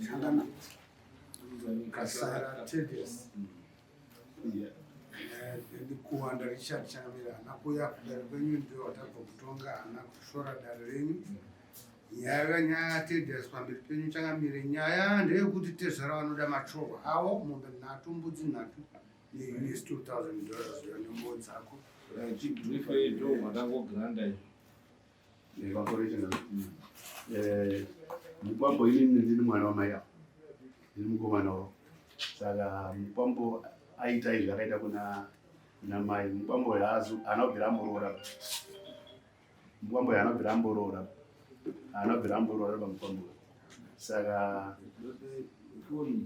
Shangana. Kasara Tedious. Yeah. ndikuwanda richard changamira hana kuya kudare kwenyu ndiyo watabva kutonga hana kushora dare renyu nyaya kanyaya tedhas pamberi penyu changamire nyaya ndeyekuti tezvara vanoda machohwa awo mombe nhatu mbudzi nhatu neus 2000 dollars yanembo dzako chibrife ido matangogiranda izvo Eh, mukwambo inini ndini mwana wamai avo ndini mukomana wavo saka mukwambo aita izvi akaita kuna namai mukwambo haazi haana kubvira amboroora mukwambo haana kubvira amboroora haana kubvira amboroora pamukwambo saka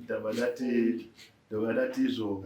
ndabva ndati ndabva ndati izvo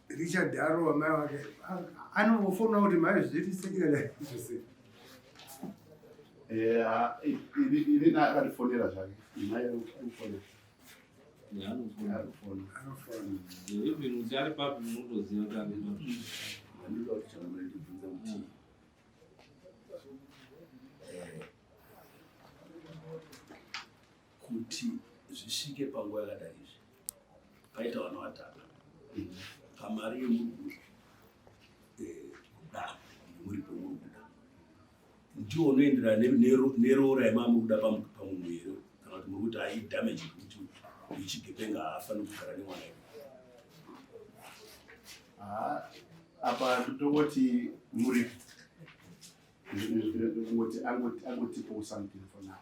Richard Daro amai wake anongofonawo kuti mai zviri sekiraiose ini akatifonera zvake mai anofona kuti zvisvike panguva yakadai izvi paita vana vatanga pamari yemuruguru eh, kuda nemuri pemuri kuda ndiwo unoenderana neroora yemamuri kuda pamunhu here kana kuti muri kuti ai damage kuti ichigepenga haafaniri kugara nemwana iwe apa ndotongoti muri kungoti angotipowo something for now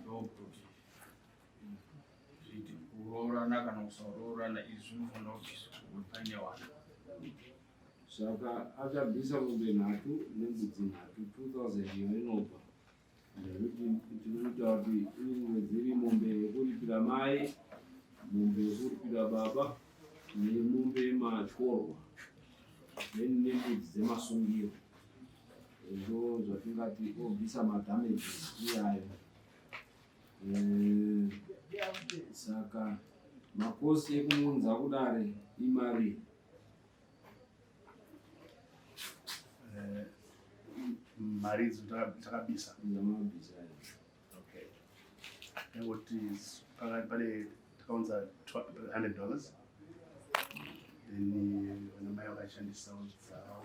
ndokuti zviti kuroorana kana kusaroorana izvi zvinofanira kuti pane wana saka akabvisa mombe nhatu nembudzi nhatu 2000 iyo inobva nekuti tinoita kuti imwe dziri mombe yekuripira mai mombe yekuripira baba nemombe yematyorwa then nembudzi dzemasungiro ndo zvatingati obvisa madamages iyayo eh, saka makosi ekumuunza kudare imari eh, mari idzo takabisa ndamabisa okay nekuti pakati pane takaunza 100 dollars then vanamai vakashandisa dzawo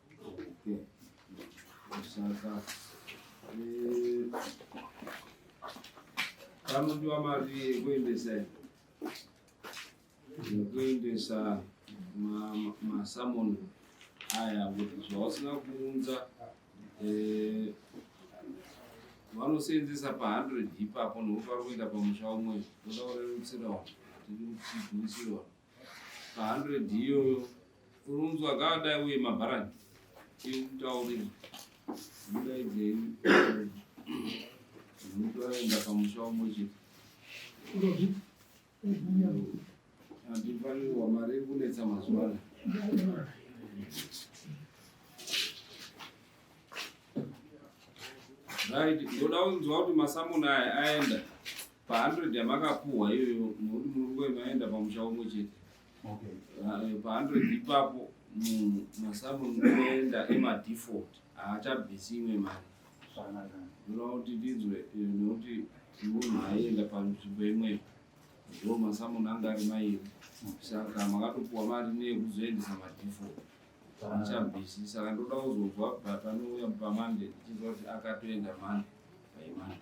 Anodiwa mari yekuendesa yekuendesa masamoni aya kuti zvausina kuunza eh, vanoseenzesa pa100 ipapo nokupa kuenda pamusha umwe oda kurerutsirawo tiri kuchigwirisirawo Pa 100 iyoyo urunzwa akadai uye mabharani iye kutaurira mudaidzei mutoenda pamusha umwe chete andifanirwa mari iri kunetsa mazuva ano right ndoda kunzwa kuti masamuna aya aenda Pa 100 yamakapuhwa iyoyo nokuti muri kunge maenda pamusha umwe chete. Okay. Uh, pa 100 ipapo munhu masamu munoenda emadefault haachabvisi imwe mari. Zvakanaka. Ndinoda kuti tinzwe eh, nokuti munhu aienda panzvimbo imweyo ndo masamu anga ari mairi saka makatopuwa mari neyekuzoendesa madefault haachabvisi saka ndoda kuzonzwa but anouya pamande ndichinzwa kuti akatoenda mande paimande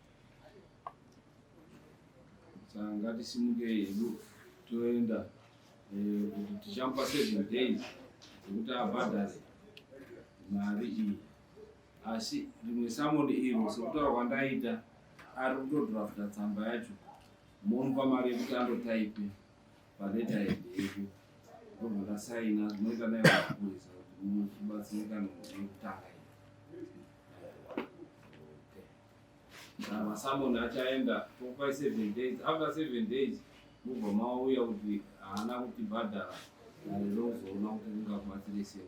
Ngatisimukei hedu toenda eh, kuti tichamupa seven days dzekuti abhadhare mari iyi asi rimwe samoni iro sekutaura kwandaita ari kutodrafta tsamba yacho momupa mari yekuti andotaipe paleta yedu ndobva ndasaina zvinoita naye mapurisa kuti mubatsirikana nekutanga masamoni achaenda tokupai seven days after seven days mubva mauya kuti haana kutibhadhara ndozoona kuti ungabatsire sei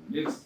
Yes.